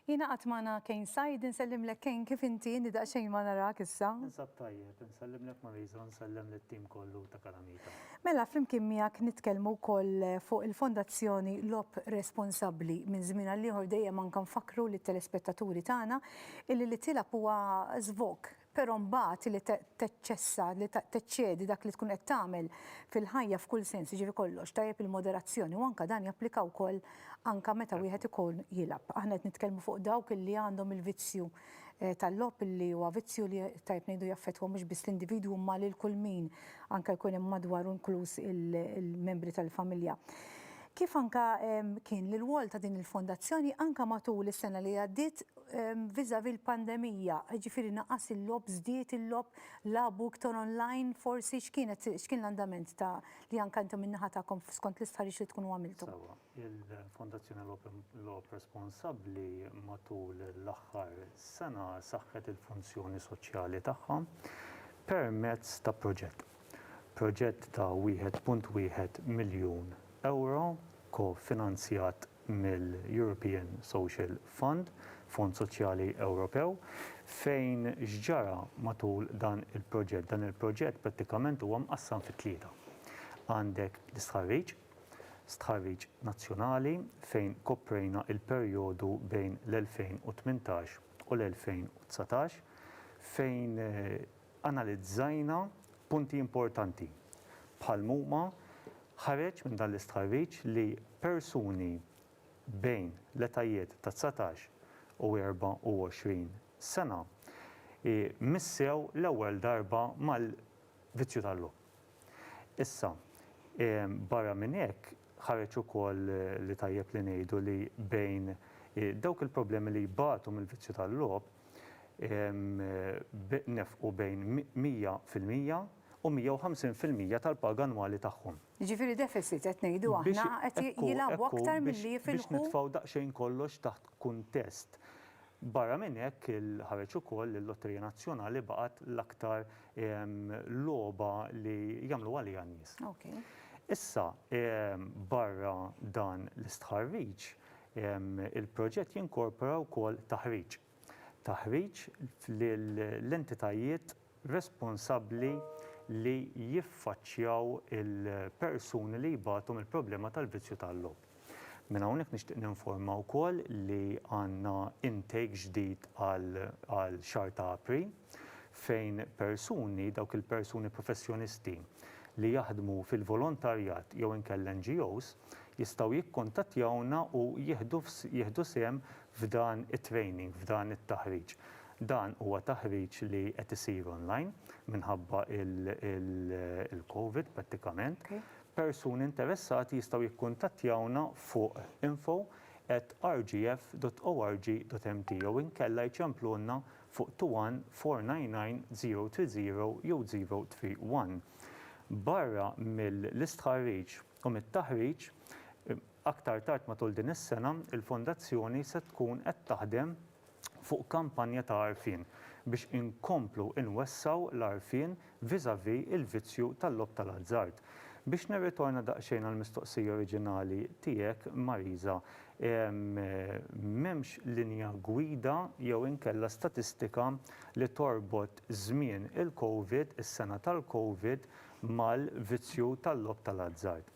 Jiena qatt magħna Kane Said, insellimlek Kane kif inti, inni daqsxejn ma narak issa. Ninsab tajjeb, insellimlek Mariża u nsellem lit-tim kollu ta' Kalamita. Mela flimkien miegħek nitkellmu wkoll fuq il-Fondazzjoni Logħob Responsabbli. Minn żmien għal ieħor dejjem anke nfakkru lit-telespettaturi tagħna illi li tilgħab huwa żvog Però mbagħad li teċċessa, li teċċedi dak li tkun qed tagħmel fil-ħajja f'kull sens, jiġifieri kollox, tajjeb il-moderazzjoni u anke dan japplika wkoll anke meta wieħed ikun jilgħab. Aħna qed nitkellmu fuq dawk li għandhom il-vizzju eh, tal-logħob li huwa vizzju li tajjeb ngħidu jaffettwa mhux biss l-individwu imma lil kull min anke jkun hemm madwaru inkluż il-membri tal-familja kif anka kien l wol ta' din il-fondazzjoni anka matul is-sena li għaddiet vis-à-vis l-pandemija, jiġifieri naqas il-logħob, żdied il-logħob, lagħbu iktar online forsi, x'kienet, x'kien l-andament ta' li anke intom min-naħa tagħkom skont l-istħarriġ li tkunu għamiltu? Sewwa, il-Fondazzjoni Logħob Responsabbli matul l-aħħar sena saħħet il-funzjoni soċjali tagħha permezz ta' proġett. Proġett ta' 1.1 miljun ewro ko-finanzjat mill-European Social Fund, Fond Soċjali Ewropew, fejn x'ġara matul dan il-proġett? Dan il-proġett prattikament huwa mqassam fi tlieta. Għandek l-istħarriġ, stħarriġ nazzjonali fejn koprejna il-perjodu bejn l-2018 u l-2019 fejn analizzajna punti importanti bħal huma Ħareġ minn dan l-istħarriġ li persuni bejn l-etajiet ta' dsatax u 24 sena missew l-ewwel darba mal-vizzju tal-logħob. Issa, barra minn hekk, ħareġ ukoll li tajjeb li ngħidu li bejn dawk il-problemi li jbatu mill-vizzju tal-logħob nefqu bejn 100 fil-mija, u 150 fil-mija tal-paga annwali tagħhom. Jiġifieri deficit qed ngħidu aħna qed jilagħbu aktar milli jifilħu. Biex nitfgħu daqsxejn kollox taħt kuntest. Barra minn hekk ħareġ ukoll li l-Lotterija Nazzjonali baqgħet l-aktar logħba li jagħmlu għaliha n-nies. Issa barra dan l-istħarriġ il-proġett jinkorpora wkoll taħriġ. taħriġ lill-entitajiet responsabbli li jiffaċċjaw il-persuni li jbatu mill-problema tal-vizzju tal-logħob. Minn hawnhekk nixtieq ninforma wkoll li għandna intake ġdid għal xahar ta' April. fejn persuni, dawk il-persuni professjonisti li jaħdmu fil-volontarjat jew inkella NGOs, jistgħu jikkuntattjawna u jieħdu jieħdu sehem f'dan it-training, f'dan it-taħriġ. Dan huwa taħriġ li qed isir online minħabba l-Covid prattikament. Persuni interessati jistgħu jikkuntattjawna fuq info at rgf dot org dot mt jew inkella jċemplulna fuq 21499-030 jew 031. Barra mill-istħarriġ u mit-taħriġ, aktar tard matul din is-sena, il-Fondazzjoni se tkun qed taħdem fuq kampanja ta' għarfien biex inkomplu nwessgħu l-għarfien vis-à-vis il-vizzju tal-logħob tal-azzard. Biex nirritorna daqsxejn għall-mistoqsija oriġinali tiegħek, Marisa, m'hemmx linja gwida jew inkella statistika li torbot żmien il-Covid, is-sena tal-Covid, mal-vizzju tal-logħob tal-azzard.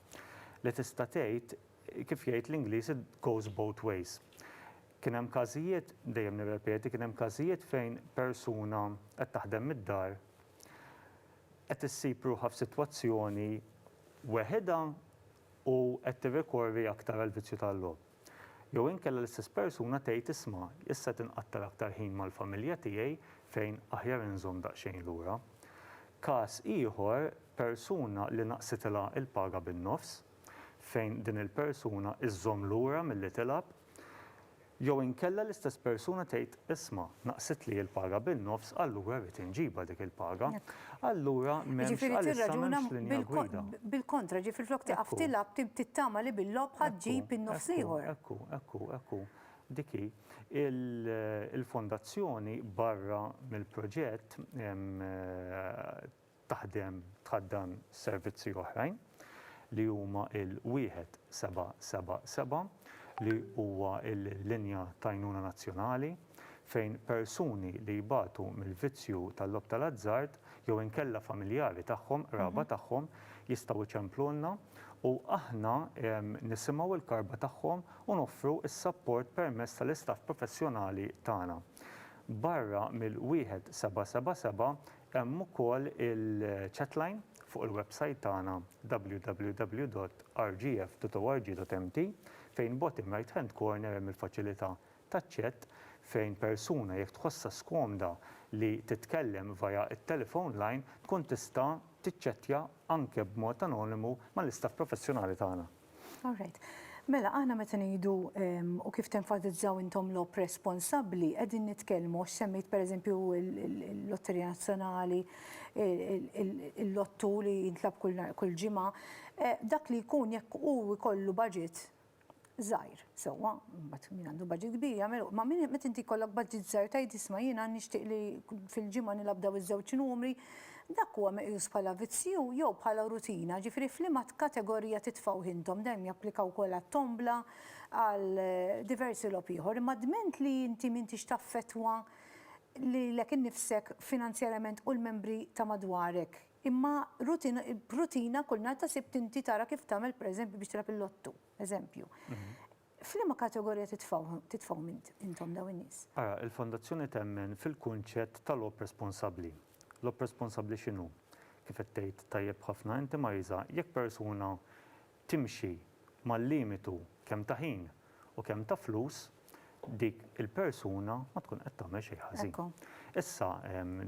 Li tista' tgħid, kif jgħid l-Ingliż, it goes both ways. Kien hemm każijiet, dejjem nirrepeti, kien hemm każijiet fejn persuna qed taħdem mid-dar qed issib ruħha f'sitwazzjoni weħidha u qed tirrikorri aktar għall-vizzju tal-logħob. Jew inkella l-istess persuna tgħid isma', issa qed inqattar aktar ħin mal-familja tiegħi fejn aħjar inżomm daqsxejn lura. Każ ieħor, persuna li naqsitilha l-paga bin-nofs, fejn din il-persuna żżomm lura milli tilgħab, Jew inkella l-istess persuna tgħid, isma', naqsitli l-paga bin-nofs, allura rrid inġibha dik il-paga. Allura m'hemmx għalissa m'hemmx linja gwida. Bil-kontra, ġifieri flok tieqaf tilgħab tittama li bil-logħob ħa ġġib in-nofs l-ieħor. Ekku, ekku, ekku, dik hi. Il-Fondazzjoni barra mill-proġett taħdem tħaddan servizzi oħrajn li huma l-1777 li huwa l-linja t'għajnuna nazzjonali fejn persuni li jbatu mill-vizzju tal-logħob tal-azzard jew inkella familjari tagħhom, qraba tagħhom jistgħu jċemplulna u aħna nisimgħu l-karba tagħhom u noffru s-sapport permezz tal-istaff professjonali tagħna. Barra mill-1777 Hemm ukoll il-chatline fuq il-websajt tagħna www.rgf.org.mt fejn bottom right hand corner hemm il-faċilità taċ-chat fejn persuna jekk tħossha skomda li titkellem via t-telephone line tkun tista' tiċċettja anke b'mod anonimu mal-istaff professjonali tagħna. All right. Mela, aħna meta ngħidu u kif tenfasizzaw intom logħob responsabbli, qegħdin nitkellmu għax semmejt pereżempju l-Lotterija Nazzjonali, il-lottu li jintlab kull ġimgħa, dak li jkun jekk hu jkollu budget żgħir. Sewwa, imbagħad min għandu budget kbir jagħmel u. Ma min meta inti jkollok budget żgħir tgħid isma' jiena nixtieq li fil-ġimgħa nilgħab dawn iż-żewġ numri, dak huwa meqjus bħala vizzju jew bħala rutina? Ġifieri f'liema kategorija titfgħuh intom? Dan japplika wkoll għat-tombla, għal diversi logħob ieħor. Imma dment li inti m'intix taffettwa lilek innifsek finanzjarjament u l-membri ta' madwarek, imma rutina kull nhar ta' Sibt inti tara kif tagħmel pereżempju biex tilgħab il-Lottu. Eżempju. F'liema kategorija titfgħuhom intom dawn in-nies? Ara, il-Fondazzjoni temmen fil-kunċett ta' logħob responsabbli. Logħob responsabbli x'inhu? Kif qed tgħid tajjeb ħafna inti Marisa, jekk persuna timxi mal-limitu kemm ta' ħin u kemm ta' flus, dik il-persuna ma tkun qed tagħmel xejn ħażin. Issa,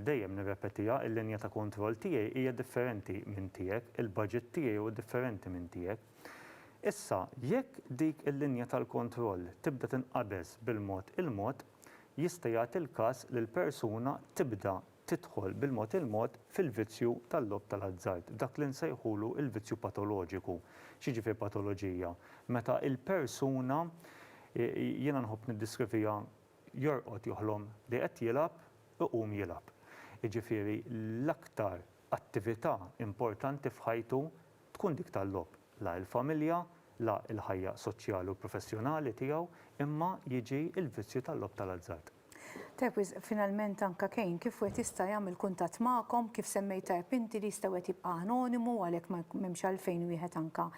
dejjem nirrepetiha, il-linja ta' kontroll tiegħi hija differenti minn tiegħek, il-budget tiegħi huwa differenti minn tiegħek. Issa, jekk dik il-linja tal-kontroll tibda tinqabeż bil-mod il-mod, jista' jagħti l-każ li l-persuna tibda tidħol bil-mod il-mod fil-vizzju tal-logħob tal-azzard, dak li nsejħulu l-vizzju patoloġiku. X'jiġifier patoloġija? Meta l-persuna, jiena nħobb niddiskrivija, jorqod joħlom li qed jilgħab, iqum jilgħab. Jiġifieri l-aktar attività importanti f'ħajtu tkun dik tal-logħob. la l-familja, la l-ħajja soċjali u professjonali tiegħu, imma jiġi l-vizzju tal-logħob tal-azzard. Tajjeb wisq, finalment anke Cain kif wieħed jista' jagħmel kuntatt magħkom, kif semmejt tajjeb inti li jista' wieħed jibqa' anonimu għalhekk m'hemmx għalfejn wieħed anke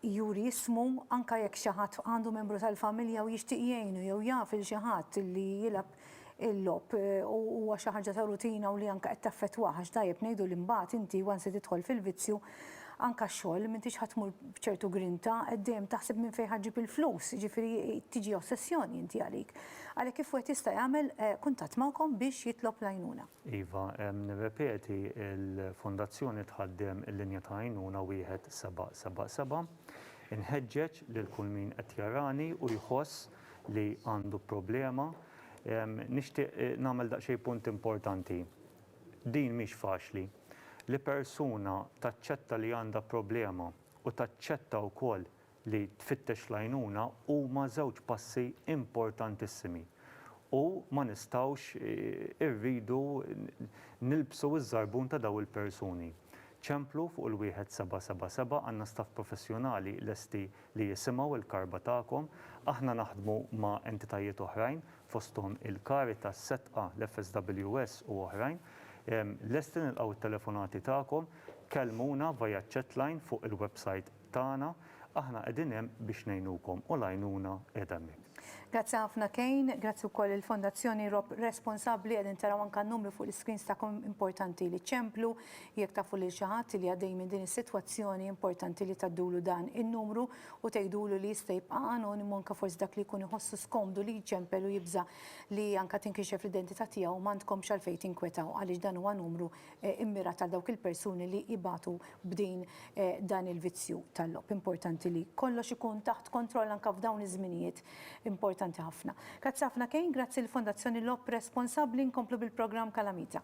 juri ismu, anke jekk xi ħadd għandu membru tal-familja u jixtieq jgħinu jew jaf 'il xi ħadd li jilgħab il-logħob u huwa xi ħaġa ta' rutina u li anke qed taffettwah għax tajjeb ngħidu li mbagħad inti once li tidħol fil-vizzju anke x-xogħol m'intix ħa tmur b'ċertu grinta, qed dejjem taħseb minn fejn ħa ġġib il-flus, jiġifieri tiġi ossessjoni inti għalik. Għalhekk kif wieħed jista' jagħmel kuntatt magħkom biex jitlob l-għajnuna? Iva, nirrepeti l-Fondazzjoni tħaddem il-linja ta' għajnuna 1777. Inħeġġeġ lil kull min qed jarani u jħoss li għandu problema. Nixtieq nagħmel daqsxejn punt importanti. Din mhix faċli. Li persuna taċċetta li għandha problema u taċċetta wkoll li tfittex l-għajnuna huma żewġ passi importantissimi u ma nistgħux irridu nilbsu ż-żarbun ta' dawn il-persuni. Ċemplu fuq il-1777 għandna staff professjonali lesti li jisimgħu l-karba tagħkom. Aħna naħdmu ma' entitajiet oħrajn, fosthom il-Caritas, Setqa, l-FSWS u oħrajn. Lesti nilqgħu t-telefonati tagħkom. Kellmuna via chatline fuq il-website tagħna. Aħna qegħdin hemm biex ngħinukom u l-għajnuna qiegħda hemmhekk. Grazzi ħafna Kane, grazzi wkoll lill-Fondazzjoni Robb Responsabbli, qegħdin taraw anke n-numri fuq l-iscreens tagħkom, importanti li ċemplu. Jekk tafu lil xi ħadd li għaddej minn din is-sitwazzjoni, importanti li tgħaddulu dan in-numru u tgħidulu li jista' jibqa' anonimu anke forsi dak li jkun iħossu skomdu li jċempel u jibża' li anke tinkixef l-identità tiegħu m'għandkomx għalfejn tinkwetaw għaliex dan huwa numru mmirat għal dawk il-persuni li jbatu b'din dan il-vizzju tal-logħob. Importanti li kollox ikun taħt kontroll anke f'dawn iż-żminijiet Importanti ħafna. Grazzi ħafna Kane, grazzi lill-Fondazzjoni Lob Responsabbli nkomplu bil-programm Kalamita.